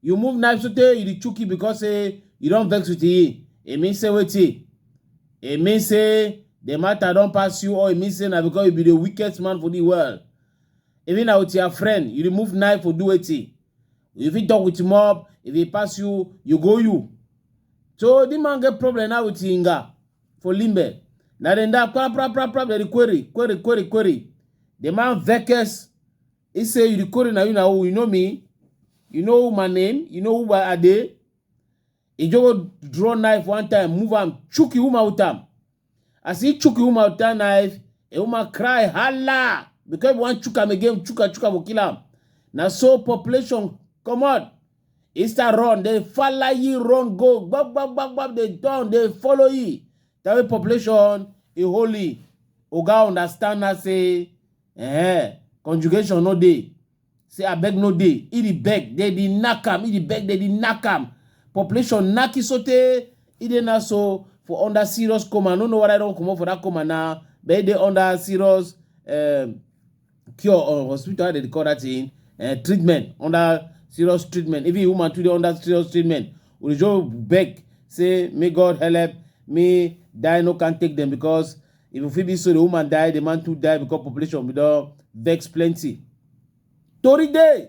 You move knife sotey you dey chook it because say you don vex with it. E mean say wetin? E mean say the matter don pass you or e mean say na because you be the weakest man for the world. Even na with your friend, you remove knife for do wetin? You fit talk with mob, if e pass you, you go you. So the man get problem now with Inga for Limbe. Na dem da pra pra pra pra dem dey query, query, query, query. The man vex He say, you the code na you na who, you know me? You know my name? You know who I dey? He just go draw knife one time, move am, chook him woman with am. As he chook him woman with that knife, a woman cry, holla! Because he wan chook am again, chook am, chook am, go kill am. Na so population comot. He start run, they follow ye run go, gbab, gbab, gbab, gbab, they down, they follow ye. That way population, he holy. Oga understand now say, Eh, conjugation no dey. Say abeg no dey. E dey beg, dey dey knack am. E dey beg, dey dey knack am. Population knack e sotey e dey now so for under serious coma. I no know whether e don comot for that coma now, but e dey under serious um cure or hospital. How dem dey call that thing? um Treatment. Under serious treatment. Even im woman too dey under serious treatment. Ojo beg say make God helep me die no can take dem because If you feel this story, woman die, the man too die because population we don vex plenty. Tori dey!